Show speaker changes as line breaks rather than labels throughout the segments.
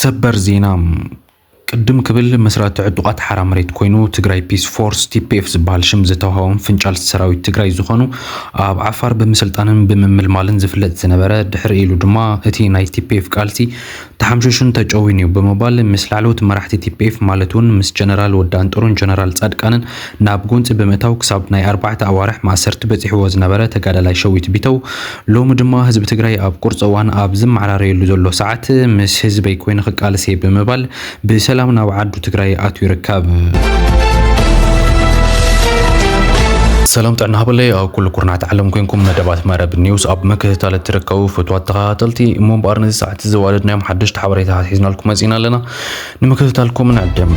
ሰበር ዜና ቅድም ክብል መስራቲ ዕጡቓት ሓራ መሬት ኮይኑ ትግራይ ፒስ ፎርስ ቲፒኤፍ ዝበሃል ሽም ዝተዋሃቦም ፍንጫል ሰራዊት ትግራይ ዝኾኑ ኣብ ዓፋር ብምስልጣንን ብምምልማልን ዝፍለጥ ዝነበረ ድሕሪ ኢሉ ድማ እቲ ናይ ቲፒኤፍ ቃልሲ ተሓምሺሹን ተጨውዩን እዩ ብምባል ምስ ላዕለዎት መራሕቲ ቲፒኤፍ ማለት እውን ምስ ጀነራል ወዲ ኣንጥሩን ጀነራል ፃድቃንን ናብ ጎንፂ ብምእታው ክሳብ ናይ ኣርባዕተ ኣዋርሕ ማእሰርቲ በፂሕዎ ዝነበረ ተጋዳላይ ሸዊት ቢተው ሎሚ ድማ ህዝቢ ትግራይ ኣብ ቁርፂ እዋን ኣብ ዝመዓራረየሉ ዘሎ ሰዓት ምስ ህዝበይ ኮይኑ ክቃልስ እየ ብምባል ብሰላም ናብ ዓዱ ትግራይ ኣትዩ ይርከብ። ሰላም ጥዕና ሃበለይ ኣብ ኩሉ ኩርናት ዓለም ኮንኩም መደባት መረብ ኒውስ ኣብ ምክትታል እትርከቡ ፍትዋት ተኸታተልቲ እሞ እምበኣር ነዚ እቲ ዘዋደድናዮም ሓደሽቲ ሓበሬታታት ሒዝናልኩም መጺእና ኣለና ንምክትታልኩም ንዕድም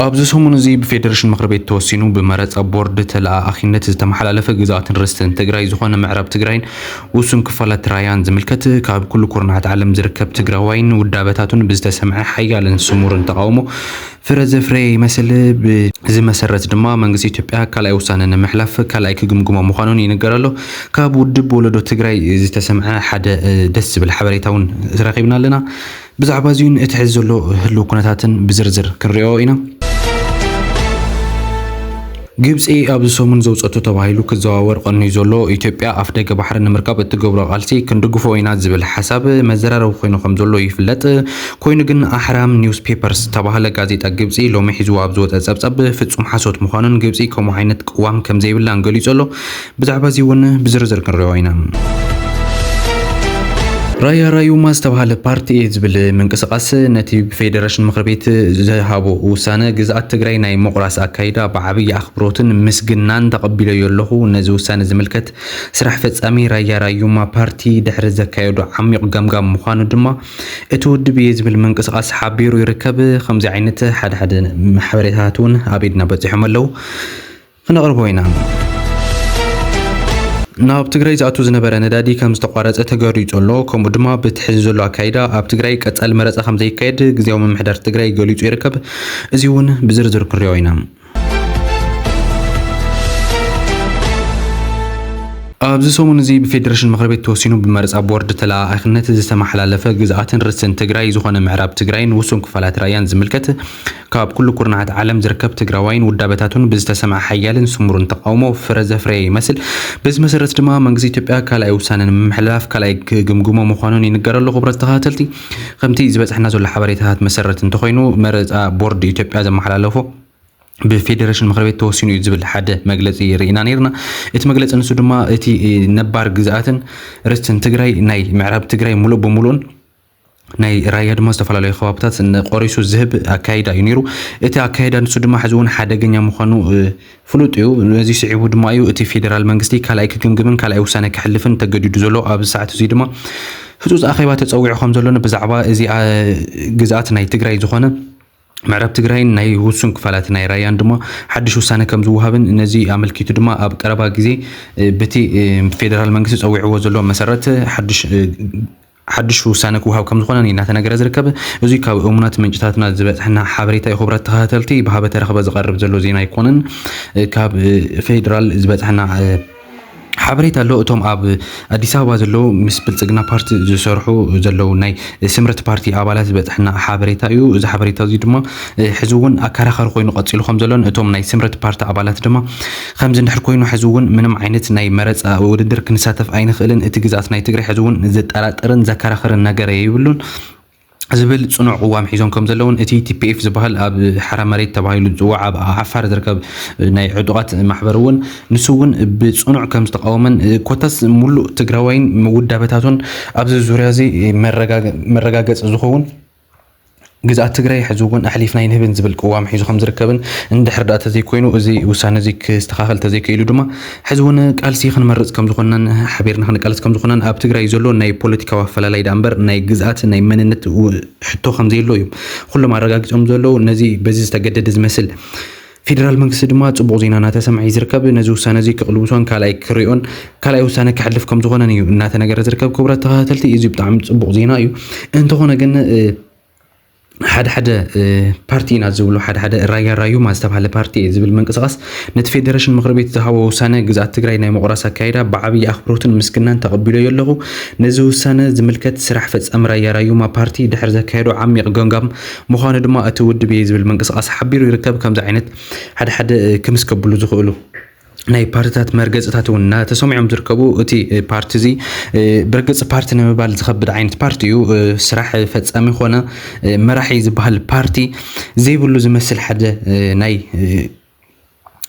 ኣብዚ ሰሙን እዚ ብፌደሬሽን ምክር ቤት ተወሲኑ ብመረፃ ቦርድ ተለኣኣኺነት ዝተመሓላለፈ ግዝኣትን ርስትን ትግራይ ዝኾነ ምዕራብ ትግራይን ውሱን ክፋላት ራያን ዝምልከት ካብ ኩሉ ኩርናዓት ዓለም ዝርከብ ትግራዋይን ውዳበታቱን ብዝተሰምዐ ሓያልን ስሙርን ተቃውሞ ፍረ ዘፍረየ ይመስል። ብዚ መሰረት ድማ መንግስቲ ኢትዮጵያ ካልኣይ ውሳነ ንምሕላፍ ካልኣይ ክግምግሞ ምዃኑን ይንገር ኣሎ። ካብ ውድብ ወለዶ ትግራይ ዝተሰምዐ ሓደ ደስ ዝብል ሓበሬታ እውን ረኺብና ኣለና። ብዛዕባ እዚኡን እቲ ሕዚ ዘሎ ህልው ኩነታትን ብዝርዝር ክንሪኦ ኢና። ግብጺ ኣብዚ ሰሙን ዘውጸቶ ተባሂሉ ክዘዋወር ቐንዩ ዘሎ፣ ኢትዮጵያ ኣፍደገ ባሕሪ ንምርካብ እትገብሮ ቓልሲ ክንድግፎ ኢና ዝብል ሓሳብ መዘራረቢ ኮይኑ ከምዘሎ ይፍለጥ። ኮይኑ ግን ኣህራም ኒውስ ፔፐርስ ዝተባህለ ጋዜጣ ግብጺ ሎሚ ሒዝዎ ኣብ ዝወጸ ጸብጻብ ፍጹም ሓሶት ምዃኑን ግብጺ ከምኡ ዓይነት ቅዋም ከምዘይብላን ገሊጹ ኣሎ። ብዛዕባ እዚ እውን ብዝርዝር ክንሪኦ ኢና። ራያ ራዩማ ዝተብሃለ ፓርቲ እየ ዝብል ምንቅስቓስ ነቲ ብፌደረሽን ምኽሪ ቤት ዝሃቦ ውሳነ ግዝኣት ትግራይ ናይ ምቑራስ ኣካይዳ ብዓብዪ ኣኽብሮትን ምስግናን ተቐቢለዮ ኣለኹ። ነዚ ውሳነ ዝምልከት ስራሕ ፈጻሚ ራያ ራዩማ ፓርቲ ድሕሪ ዘካየዶ ዓሚቕ ገምጋም ምዃኑ ድማ እቲ ውድብ እየ ዝብል ምንቅስቓስ ሓቢሩ ይርከብ። ከምዚ ዓይነት ሓደሓደ ሓበሬታታት እውን ኣብ ኢድና በፂሖም ኣለዉ። ክነቕርቦ ኢና። ናብ ትግራይ ዝኣቱ ዝነበረ ነዳዲ ከም ዝተቋረፀ ተገሪፁ ኣሎ። ከምኡ ድማ በቲ ሕዚ ዘሎ ኣካይዳ ኣብ ትግራይ ቀፃሊ መረፃ ከም ዘይካየድ ግዜያዊ ምምሕዳር ትግራይ ገሊፁ ይርከብ። እዚ እውን ብዝርዝር ክንሪኦ ኢና። ኣብዚ ሰሙን እዚ ብፌዴሬሽን ምክር ቤት ተወሲኑ ብመረፃ ቦርድ ተለኣኣኽነት ዝተመሓላለፈ ግዝኣትን ርስትን ትግራይ ዝኾነ ምዕራብ ትግራይን ውሱን ክፋላት ራያን ዝምልከት ካብ ኩሉ ኩርናዓት ዓለም ዝርከብ ትግራዋይን ውዳበታቱን ብዝተሰምዐ ሓያልን ስሙርን ተቓውሞ ፍረ ዘፍረየ ይመስል። በዚ መሰረት ድማ መንግስቲ ኢትዮጵያ ካልኣይ ውሳነ ንምምሕልላፍ ካልኣይ ክግምግሞ ምዃኑን ይንገረሉ። ክቡራት ተኸታተልቲ ከምቲ ዝበጽሐና ዘሎ ሓበሬታታት መሰረት እንተኾይኑ መረጻ ቦርድ ኢትዮጵያ ዘመሓላለፎ ብፌደሬሽን ምክሪ ቤት ተወሲኑ እዩ ዝብል ሓደ መግለፂ ርኢና ነይርና። እቲ መግለፂ ንሱ ድማ እቲ ነባር ግዝኣትን ርስትን ትግራይ ናይ ምዕራብ ትግራይ ሙሉእ ብሙሉእን ናይ ራያ ድማ ዝተፈላለዩ ከባብታት ቆሪሱ ዝህብ ኣካይዳ እዩ ነይሩ እቲ ኣካይዳ ንሱ ድማ ሕዚ እውን ሓደገኛ ምዃኑ ፍሉጥ እዩ ነዚ ስዒቡ ድማ እዩ እቲ ፌዴራል መንግስቲ ካልኣይ ክግምግምን ካልኣይ ውሳነ ክሕልፍን ተገዲዱ ዘሎ ኣብዚ ሰዓት እዚ ድማ ህፁፅ ኣኼባ ተፀዊዑ ከም ዘሎን ብዛዕባ እዚ ግዝኣት ናይ ትግራይ ዝኾነ ምዕራብ ትግራይን ናይ ውሱን ክፋላት ናይ ራያን ድማ ሓድሽ ውሳነ ከም ዝወሃብን ነዚ ኣመልኪቱ ድማ ኣብ ቀረባ ግዜ በቲ ፌዴራል መንግስቲ ፀዊዕዎ ዘሎ መሰረት ሓድሽ ሓዱሽ ውሳነ ክወሃብ ከምዝኾነን እዩ እናተነገረ ዝርከብ። እዙይ ካብ እሙናት ምንጭታትና ዝበፀሐና ሓበሬታ እዩ። ኹብራት ተኸታተልቲ ብሃበ ተረኽበ ዝቐርብ ዘሎ ዜና ኣይኮነን። ካብ ፌዴራል ዝበፀሐና ሓበሬታ ኣሎ እቶም ኣብ ኣዲስ ኣበባ ዘለዉ ምስ ብልፅግና ፓርቲ ዝሰርሑ ዘለዉ ናይ ስምረት ፓርቲ ኣባላት ዝበፅሐና ሓበሬታ እዩ እዚ ሓበሬታ እዚ ድማ ሕዚ እውን ኣከራኻሪ ኮይኑ ቀፂሉ ከም ዘሎን እቶም ናይ ስምረት ፓርቲ ኣባላት ድማ ኸምዚ እንድሕር ኮይኑ ሐዚ ውን ምንም ዓይነት ናይ መረፃ ውድድር ክንሳተፍ ኣይንኽእልን፣ እቲ ግዝኣት ናይ ትግራይ ሐዚ ውን ዘጠራጥርን ዘከራኽርን ነገር የይብሉን ዝብል ፅኑዕ ቕዋም ሒዞም ከምዘለውን እቲ tpf ዝባሃል ኣብ ሓራ መሬት ተባሂሉ ዝፅዋዕ ኣብ ዓፋር ዝርከብ ናይ ዕጡቓት ማሕበር ውን ንሱ ውን ብፅኑዕ ከምዝተቓወመን ኮታስ ሙሉእ ትግራዋይን ውዳበታቱን ኣብዚ ዙርያ እዚ መረጋገፂ ዝኸውን ግዝኣት ትግራይ ሕዚ እውን ኣሕሊፍና ኣይንህብን ዝብል ቅዋም ሒዙ ከም ዝርከብን እንድሕር ደኣ ተዘይኮይኑ እዚ ውሳነ እዚ ክስተኻኸል ተዘይከኢሉ ድማ ሕዚ እውን ቃልሲ ክንመርፅ ከም ዝኾንናን ሓቢርና ክንቃለስ ከም ዝኾንናን ኣብ ትግራይ ዘሎ ናይ ፖለቲካዊ ኣፈላላይ ደኣ እምበር ናይ ግዝኣት ናይ መንነት ሕቶ ከም ዘየሎ እዮም ኩሎም ኣረጋጊፆም ዘለዉ ነዚ በዚ ዝተገደደ ዝመስል ፌደራል መንግስቲ ድማ ጽቡቕ ዜና እናተሰምዐ እዩ ዝርከብ። ነዚ ውሳነ እዚ ክቕልብሶን ካልኣይ ክሪኦን ካልኣይ ውሳነ ከሕልፍ ከም ዝኾነን እዩ እናተነገረ ዝርከብ። ክቡራት ተኸታተልቲ እዚ ብጣዕሚ ጽቡቕ ዜና እዩ። እንተኾነ ግን ሓደ ሓደ ፓርቲ ኢና ዝብሉ ሓደ ሓደ ራያ ራዩማ ዝተባሃለ ፓርቲ እየ ዝብል ምንቅስቃስ ነቲ ፌደሬሽን ምክሪ ቤት ዝሃቦ ውሳነ ግዝኣት ትግራይ ናይ ምቑራስ ኣካይዳ ብዓብዪ ኣኽብሮትን ምስግናን ተቐቢሎ ኣለኹ ነዚ ውሳነ ዝምልከት ስራሕ ፈጻሚ ራያ ራዩማ ፓርቲ ድሕሪ ዘካየዶ ዓሚቕ ገምጋም ምዃኑ ድማ እቲ ውድብ እየ ዝብል ምንቅስቓስ ሓቢሩ ይርከብ። ከምዚ ዓይነት ሓደ ሓደ ክምስ ከብሉ ዝኽእሉ ናይ ፓርትታት መርገፅታት እውን እናተሰሚዖም ዝርከቡ እቲ ፓርቲ እዚ ብርግፅ ፓርቲ ንምባል ዝኸብድ ዓይነት ፓርቲ እዩ። ስራሕ ፈፃሚ ኮነ መራሒ ዝበሃል ፓርቲ ዘይብሉ ዝመስል ሓደ ናይ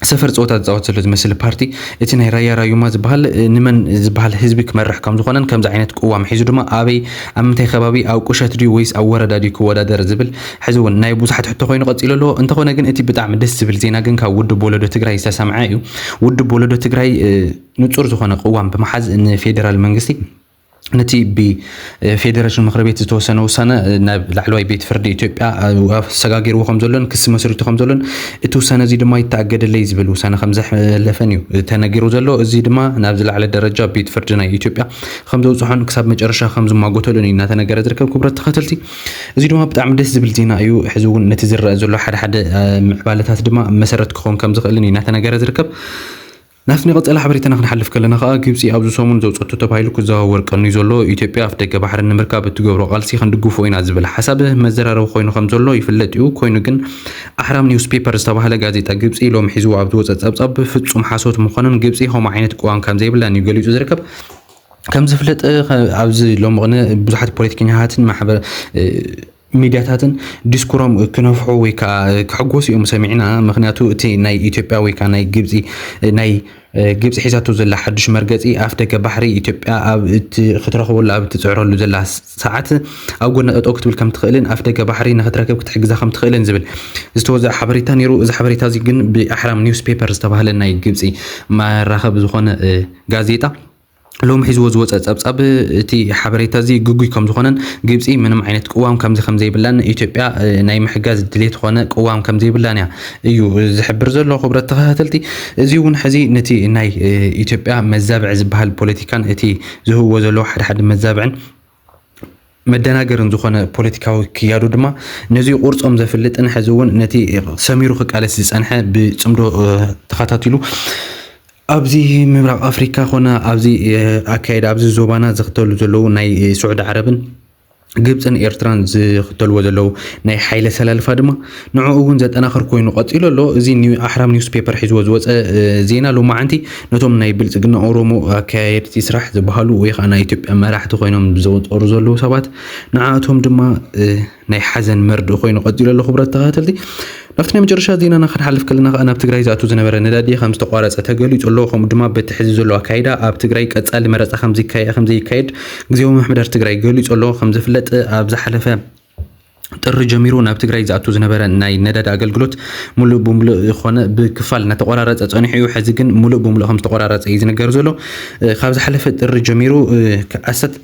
ሰፈር ጸወታ ዝጻወት ዘሎ ዝመስል ፓርቲ እቲ ናይ ራያ ራዩማ ዝበሃል ንመን ዝበሃል ህዝቢ ክመርሕ ከም ዝኾነን ከምዚ ዓይነት ቅዋም ሒዙ ድማ ኣበይ ኣብ ምንታይ ከባቢ ኣብ ቁሸት ድዩ ወይስ ኣብ ወረዳ ድዩ ክወዳደር ዝብል ሕዚ እውን ናይ ብዙሓት ሕቶ ኮይኑ ቀጺሉ ኣሎ እንተኾነ ግን እቲ ብጣዕሚ ደስ ዝብል ዜና ግን ካብ ውድብ ወለዶ ትግራይ ዝተሰምዐ እዩ ውድብ ወለዶ ትግራይ ንጹር ዝኾነ ቅዋም ብምሓዝ ንፌደራል መንግስቲ ነቲ ብፌደረሽን ምክሪ ቤት ዝተወሰነ ውሳነ ናብ ላዕለዋይ ቤት ፍርዲ ኢትዮጵያ ኣሰጋጊርዎ ከም ዘሎን ክሲ መስሪቱ ከም ዘሎን እቲ ውሳነ እዚ ድማ ይተኣገደለይ ዝብል ውሳነ ከም ዘሕለፈን እዩ ተነጊሩ ዘሎ እዚ ድማ ናብ ዝለዓለ ደረጃ ቤት ፍርዲ ናይ ኢትዮጵያ ከም ዘውፅሖን ክሳብ መጨረሻ ከም ዝማጎተሉን እዩ እናተነገረ ዝርከብ ክብረት ተኸተልቲ እዚ ድማ ብጣዕሚ ደስ ዝብል ዜና እዩ ሕዚ እውን ነቲ ዝረአ ዘሎ ሓደ ሓደ ምዕባለታት ድማ መሰረት ክኸውን ከም ዝኽእልን እዩ እናተነገረ ዝርከብ ናብቲ ናይ ቀጻሊ ሓበሬታና ክንሓልፍ ከለና ከኣ፣ ግብጺ ኣብዚ ሰሙን ዘውጸቶ ተባሂሉ ክዘዋወር ቀንዩ ዘሎ፣ ኢትዮጵያ ኣፍደገ ባሕሪ ንምርካብ እትገብሮ ቃልሲ ክንድግፎ ኢና ዝብል ሓሳብ መዘራረቢ ኮይኑ ከምዘሎ ይፍለጥ'ዩ። ኮይኑ ግን ኣህራም ኒውስ ፔፐር ዝተባህለ ጋዜጣ ግብጺ ሎሚ ሒዝዎ ኣብ ዝወጸ ጸብጻብ ፍጹም ሓሶት ምዃኑን ግብጺ ከምኡ ዓይነት ቅዋም ከምዘይብላን እዩ ገሊጹ ዝርከብ። ከምዝፍለጥ ኣብዚ ሎሚ ቅነ ብዙሓት ፖለቲከኛታትን ማሕበረ ሚድያታትን ዲስኩሮም ክነፍሑ ወይ ከኣ ክሕጎሱ እዮም ሰሚዕና ምክንያቱ እቲ ናይ ኢትዮጵያ ወይ ከኣ ናይ ግብጺ ናይ ግብጺ ሒዛቶ ዘላ ሓዱሽ መርገጺ ኣፍ ደገ ባሕሪ ኢትዮጵያ ኣብ ክትረክበሉ ኣብ ትጽዕረሉ ዘላ ሰዓት ኣብ ጎና ጠጠው ክትብል ከም ትኽእልን ኣፍ ደገ ባሕሪ ንክትረክብ ክትሕግዛ ከም ትኽእልን ዝብል ዝተወዘዐ ሓበሬታ ነይሩ። እዚ ሓበሬታ እዚ ግን ብኣሕራም ኒውስ ፔፐር ዝተባህለ ናይ ግብጺ መራኸቢ ዝኾነ ጋዜጣ ሎሚ ሒዝዎ ዝወጸ ጸብጻብ እቲ ሓበሬታ እዚ ግጉይ ከም ዝኾነን ግብጺ ምንም ዓይነት ቅዋም ከምዚ ከም ዘይብላን ንኢትዮጵያ ናይ ምሕጋዝ ድሌት ኾነ ቅዋም ከም ዘይብላን እያ እዩ ዝሕብር ዘሎ ክብረት ተኸታተልቲ እዚ እውን ሕዚ ነቲ ናይ ኢትዮጵያ መዛብዕ ዝበሃል ፖለቲካን እቲ ዝህብዎ ዘለዎ ሓደ ሓደ መዛብዕን መደናገርን ዝኾነ ፖለቲካዊ ክያዱ ድማ ነዚ ቁርፆም ዘፍልጥን ሕዚ እውን ነቲ ሰሚሩ ክቃለስ ዝፀንሐ ብፅምዶ ተኸታቲሉ ኣብዚ ምብራቕ ኣፍሪካ ኮነ ኣብዚ ኣካየዳ ኣብዚ ዞባና ዝኽተሉ ዘለዉ ናይ ስዑዲ ዓረብን ግብፅን ኤርትራን ዝኽተልዎ ዘለዉ ናይ ሓይለ ሰላልፋ ድማ ንዕኡ እውን ዘጠናኽር ኮይኑ ቀፂሉ ኣሎ። እዚ ኣሕራም ኒውስ ፔፐር ሒዝዎ ዝወፀ ዜና ሎማዓንቲ ነቶም ናይ ብልፅግና ኦሮሞ ኣካየድቲ ስራሕ ዝበሃሉ ወይ ከዓ ናይ ኢትዮጵያ መራሕቲ ኮይኖም ዘወጠሩ ዘለዉ ሰባት ንዓኣቶም ድማ ናይ ሓዘን መርድእ ኮይኑ ቀፂሉ ኣሎ። ክቡራት ተኸታተልቲ ናብቲ ናይ መጨረሻ ዜናና ክንሓልፍ ከለና ከዓ ናብ ትግራይ ዝኣቱ ዝነበረ ነዳዲ ከም ዝተቋረፀ ተገሊፁ ኣሎ። ከምኡ ድማ በቲ ሕዚ ዘሎ ኣካይዳ ኣብ ትግራይ ቀፃሊ መረፃ ከምዘይካየድ ግዜያዊ ምምሕዳር ትግራይ ገሊፁ ኣሎ። ከምዝፍለጥ ኣብ ዝሓለፈ ጥሪ ጀሚሩ ናብ ትግራይ ዝኣቱ ዝነበረ ናይ ነዳዲ ኣገልግሎት ሙሉእ ብሙሉእ ኮነ ብክፋል እናተቆራረፀ ፀኒሑ እዩ። ሕዚ ግን ሙሉእ ብሙሉእ ከም ዝተቆራረፀ እዩ ዝንገር ዘሎ። ካብ ዝሓለፈ ጥሪ ጀሚሩ ኣሰት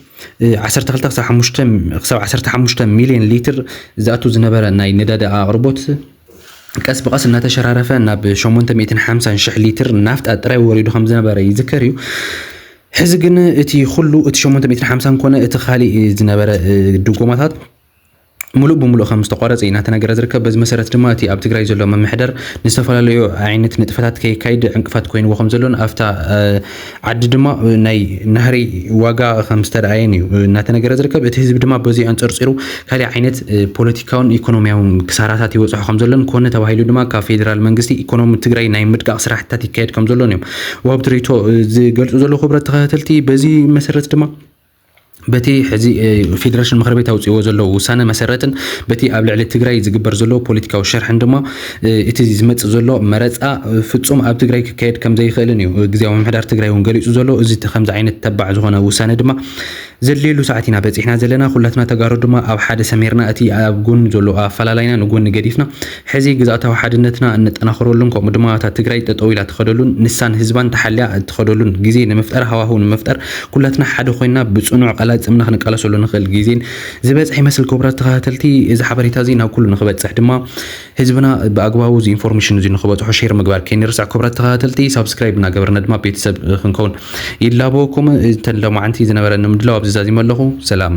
12 ክሳብ 5 ክሳብ 15 ሚሊዮን ሊትር ዝኣቱ ዝነበረ ናይ ነዳዲ ኣቕርቦት ቀስ ብቐስ እናተሸራረፈ ናብ 850 ሽሕ ሊትር ናፍጣ ጥራይ ወሪዱ ከም ዝነበረ ይዝከር እዩ። ሕዚ ግን እቲ ኩሉ እቲ ሸሞንተ ሚእትን ሓምሳን ኮነ እቲ ካሊእ ዝነበረ ድጎማታት ሙሉእ ብሙሉእ ከም ዝተቋረፀ እዩ እናተነገረ ዝርከብ። በዚ መሰረት ድማ እቲ ኣብ ትግራይ ዘሎ ምምሕዳር ንዝተፈላለዩ ዓይነት ንጥፈታት ከይካይድ ዕንቅፋት ኮይንዎ ከም ዘሎን ኣብታ ዓዲ ድማ ናይ ናህሪ ዋጋ ከም ዝተረኣየን እዩ እናተነገረ ዝርከብ። እቲ ህዝቢ ድማ በዚ ኣንፀርፂሩ ካሊእ ዓይነት ፖለቲካውን ኢኮኖሚያውን ክሳራታት ይበፅሖ ከም ዘሎን ኮነ ተባሂሉ ድማ ካብ ፌዴራል መንግስቲ ኢኮኖሚ ትግራይ ናይ ምድቃቕ ስራሕትታት ይካየድ ከም ዘሎን እዮም ወሃብቲ ርእይቶ ዝገልፁ ዘለዉ ክብረት ተኸታተልቲ በዚ መሰረት ድማ በቲ ሕዚ ፌደሬሽን ምክር ቤት ኣውፅዎ ዘለዉ ውሳነ መሰረትን በቲ ኣብ ልዕሊ ትግራይ ዝግበር ዘሎ ፖለቲካዊ ሸርሕን ድማ እቲ ዝመፅእ ዘሎ መረፃ ፍፁም ኣብ ትግራይ ክካየድ ከም ዘይኽእልን እዩ ግዜያዊ ምምሕዳር ትግራይ እውን ገሊፁ ዘሎ እዚ ከምዚ ዓይነት ተባዕ ዝኾነ ውሳነ ድማ ዘድልየሉ ሰዓት ኢና በጺሕና ዘለና ኩላትና ተጋሩ ድማ ኣብ ሓደ ሰሚርና እቲ ኣብ ጎኑ ዘሎ ኣፈላላይና ንጎኒ ገዲፍና ሕዚ ግዝኣታዊ ሓድነትና እነጠናኽረሉን ከምኡ ድማ እታ ትግራይ ጠጠው ኢላ ትኸደሉን ንሳን ህዝባን ተሓልያ እትኸደሉን ግዜ ንምፍጠር ሃዋህው ንምፍጠር ኩላትና ሓደ ኮይና ብጽኑዕ ቃላጽምና ክንቃለሰሉ ንኽእል ግዜ ዝበጽሐ ይመስል። ክቡራት ተኸታተልቲ እዚ ሓበሬታ እዚ ናብ ኩሉ ንኽበጽሕ ድማ ህዝብና ብኣግባቡ እዚ ኢንፎርሜሽን እዚ ንክበፅሖ ሼር ምግባር ከይንርስዕ ክብራት ተኸታተልቲ ሳብስክራይብ እናገበርና ድማ ቤተሰብ ክንከውን ይላበወኩም እንተ ሎማዕንቲ ዝነበረኒ ምድላው ኣብዚ ዛዚመ ኣለኹ ሰላም